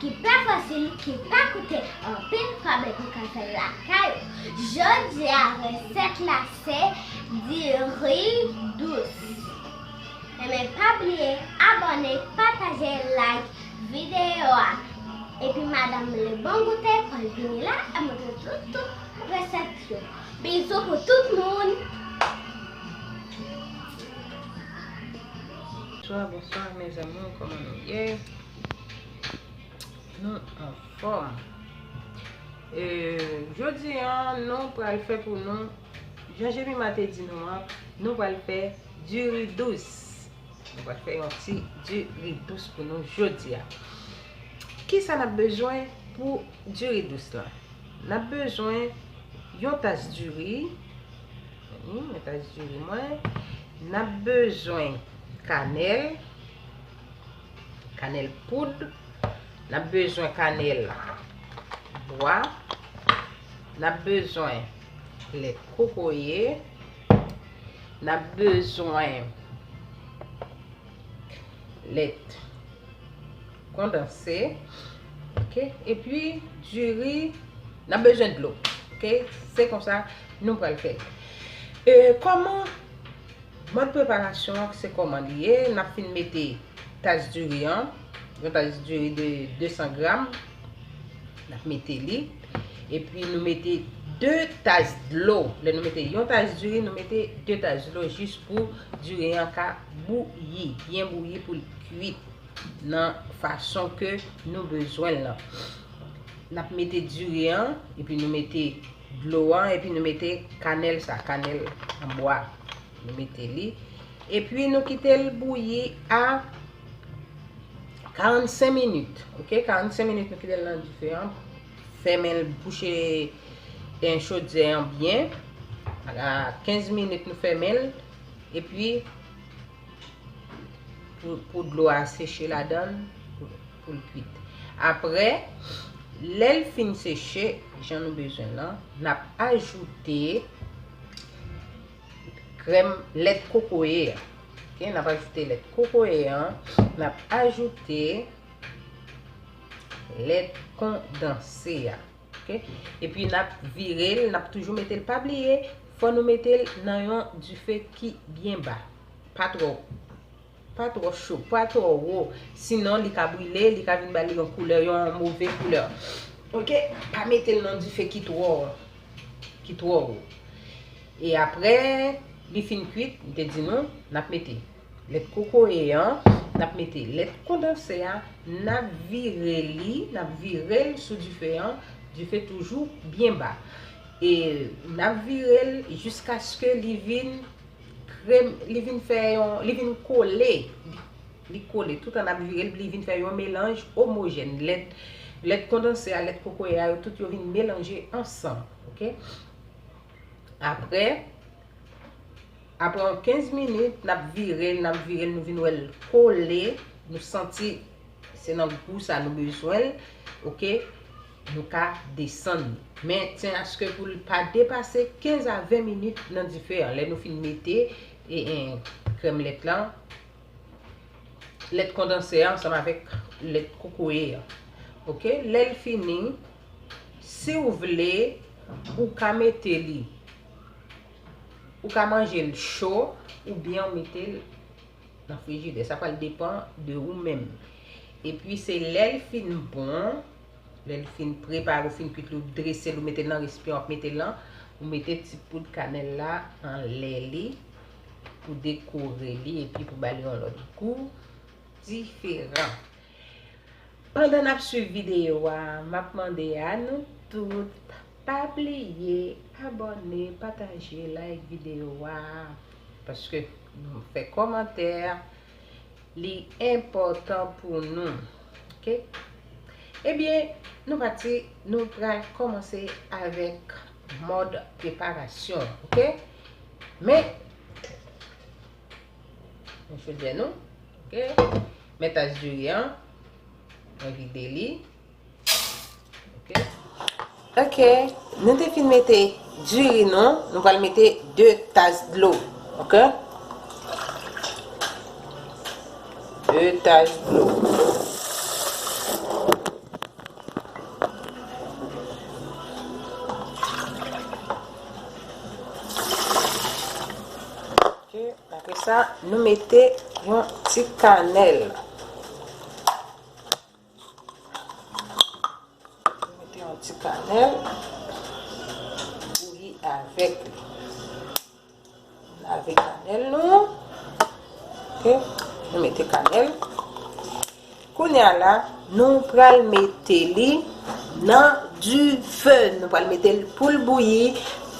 ki pa fasil, ki pa koute anpil kòb epi ka fèl lakay ou. Jodia resèt la se diri dous. Enben pa bliye abòne, pataje, like videyo a. Epi madam le bon goute pral vini la ap montre tout tout resèt yo. Bizou pou tout moun. Bonswa bonswa mes amour kòman nou ye. Nou anfòm E jodi an nou pral fè pou nou Jan Jemima te di nou an Nou pral fè du riz douce Nou pral fè yon ti du riz douce pou nou jodi a Kisa n ap bezwen pou du riz douce la N ap bezwen yon tas du riz Yon tas du riz mwen N ap bezwen kanèl Kanèl poud. N ap bezwen kanèl bwa. N ap bezwen lèt kokoye. N ap bezwen lèt kondanse. Ok. E pi diri. N ap bezwen dlo. Ok. Se konsa nou pral fè. E kòman Mòd preparasyon an se kòman li ye, n ap fin mete tas diri an, yon tas diri de 200 gram, n ap mete li, epi nou mete 2 tas dlo, lè nou mete yon tas diri, nou mete 2 tas dlo jis pou diri an ka bouyi, byen bouyi pou l kuit nan fason ke nou bezwen l lan. N ap mete diri an, epi nou mete. dlo an epi nou mete kanèl sa kanèl an bwa nou mete li epi nou kitel bouyi a 45 minit ok 45 minit nou kitel nan dife an fèmenl bouche en chodze an byen a 15 minit nou fèmenl epi pou dlo a seche ladann pou l kwit. Aprè, lè l fin seche jan nou bezwen l an, n ap ajoute krèm lèt kokoye a. Ok, n ap ajoute lèt kokoye a, n ap ajoute lèt kondanse a. Ok, epi n ap vire l, n ap toujou mete l, pa bliye fò nou mete l nan yon dife ki byen ba, pa twò wo. Pa twò cho, pa twò wo, sinon li ka brile, li ka vin ba li yon koulè, yon move koulè. Ok, pa mete l nan dife ki twò, ki twò wo. E apre li fin kwit, m te di nou, n ap mete lèt kokoye an, n ap mete lèt kondanse a, n ap vire li, n ap vire l sou dife an, dife toujou byen ba. E n ap vire l jiskaske li vin. krem li vin fè yon li vin kole li kole tout an ap vire li vin fè yon melanj omojèn lèt kondanse a lèt kokoye a yo tout yo vin melanje ansanm ok apre apre yon 15 minit nap vire l nap vire l nou vin wè l kole nou santi se nan gou sa nou bezwen l ok Nou ka desann li. Men ten aske pou li pa depase 15 a 20 minit nan dife an. Lè nou fin mete krèm lèt la, lèt kondanse an ansanm avèk lèt kokoye an. Ok, lè l fini, si ou vle, ou ka mete li, ou ka manje l cho, ou byen ou mete l nan frijidè. Sa pral depan de ou menm. E pi se lè l fin bon, Lè li fin prepare ou fin kwit li ou dresel ou metel nan resipyan wap metel lan ou mete ti poud kanèl la anlè li pou dekore li epi pou bali yon lòt gou diferan pandan nap swiv videyo a map mande a nou tout pa bliye abòne pataje like videyo a paske fè kòmantè. Li enpòtan pou nou. Ok. Ebyen, nou pati, nou pral kòmanse avèk mòd preparasyon an. Ok. Men, mwen fè dè nou. Ok. Men tas diri an, mwen vide li. Ok. Ok, nou te fin mete diri nou, nou pral mete 2 tas dlo. Ok. 2 tas dlo. Ok, apre sa nou mete yon ti kanèl. Mete yon ti kanèl. Bouyi avèk li. Lave kanèl nou an. Ok. Nou mete kanèl. Kounya la, nou pral mete li nan di fe. Nou pral mete li pou l bouyi.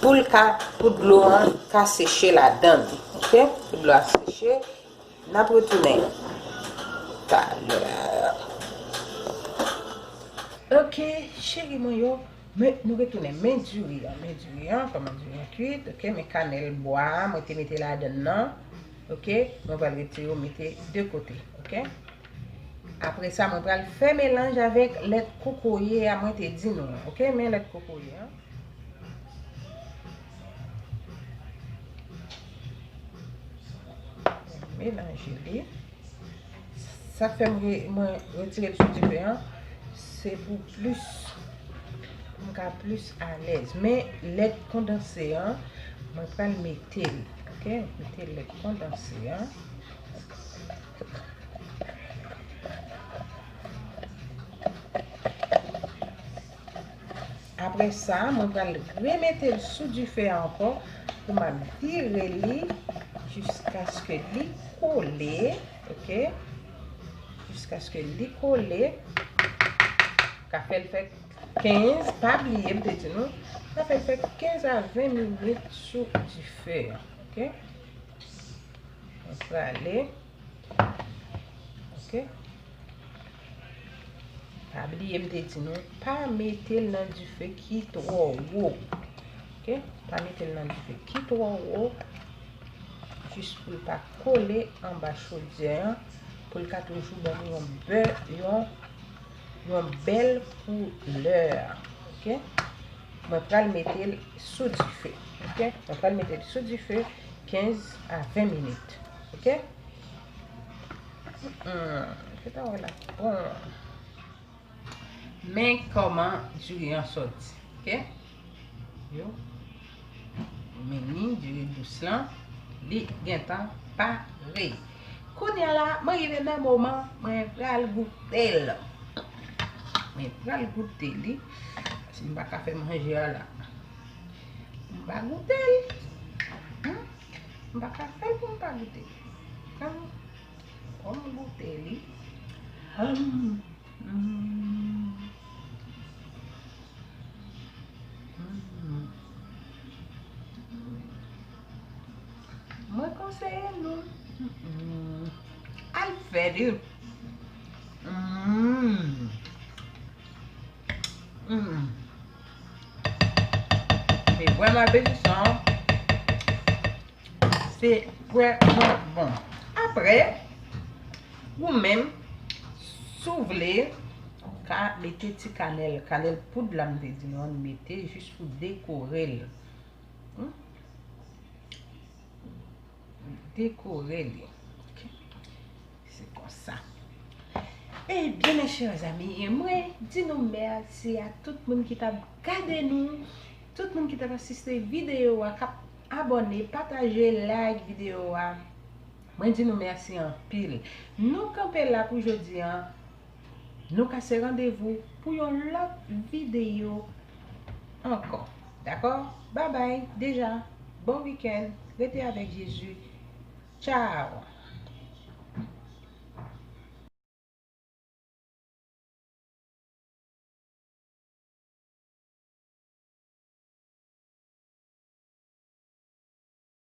Pou l ka, pou dlo an ka seche ladan li. Ok. Pou dlo a seche. N ap retounen talè. Ok cheri mwen yo, men nou retounen. Men diri an, men diri an, kòman diri an kuit. Ok, men kanèl bwa a mwen te mete ladann nan. Ok, mwen pral retire yo mete de kote. Ok. Apre sa mwen pral fè melanj avèk lèt kokoye a mwen te di nou an. Ok, men lèt kokoye an. Melanje li. Sa k fè mwen retire l sou dife an, se pou plis, pou m ka plis alèz. Men, lèt kondanse an, mwen pral mete l. Ok, mwen mete lèt kondanse an. Apre sa, mwen pral remete l sou dife a ankò pou m ap vire li jiskaske li kole. Ok. Jiskaske li kole. Ka fè l fè 15, pa bliye m te di nou, ka fè l fè 15 a 20 minit sou dife a. Ok. Mwen prale. Ok. Pa bliye m te di nou, pa mete l nan dife ki twò wo. Ok. Pa mete l nan dife ki twò wo. Jis pou l pa kole anba chodyè an. Pou l ka toujou ban nou yon bè, yon, yon bèl koulè. Ok. Mwen pral mete l sou dife. Ok. Mwen pral mete l sou dife 15 a 20 minit. Ok Men koman diri an soti Ok Yo Mini diri dous lan Li gentan pare Kounya la mwen rive nan moman Mwen pral goute l Mwen pral goute li Mwen pa ka fe manje a la Mwen pa goute l Humm M pa ka fè pou m pa goute. Humm fò m goute li. Mwen konseye nou al fè li. Humm. Li vrèman apetisan. Se vrèman bon. Apre, ou menm, si w vle, ou ka mete ti kanèl. Kanèl poud la m te di nou an nou mete jis pou dekore l. dekore li ok se konsa ebyen mes chers amis mwen di nou merci a tout moun ki tap gade nou tout moun ki tap asiste video a kap abone pataje like video a mwen di nou merci anpil nou kanpe la pou jodi an Nou kase randevou pou yon lòt videyo ankò dakò babay deja bon weekend rete avèk Jezi tchaw.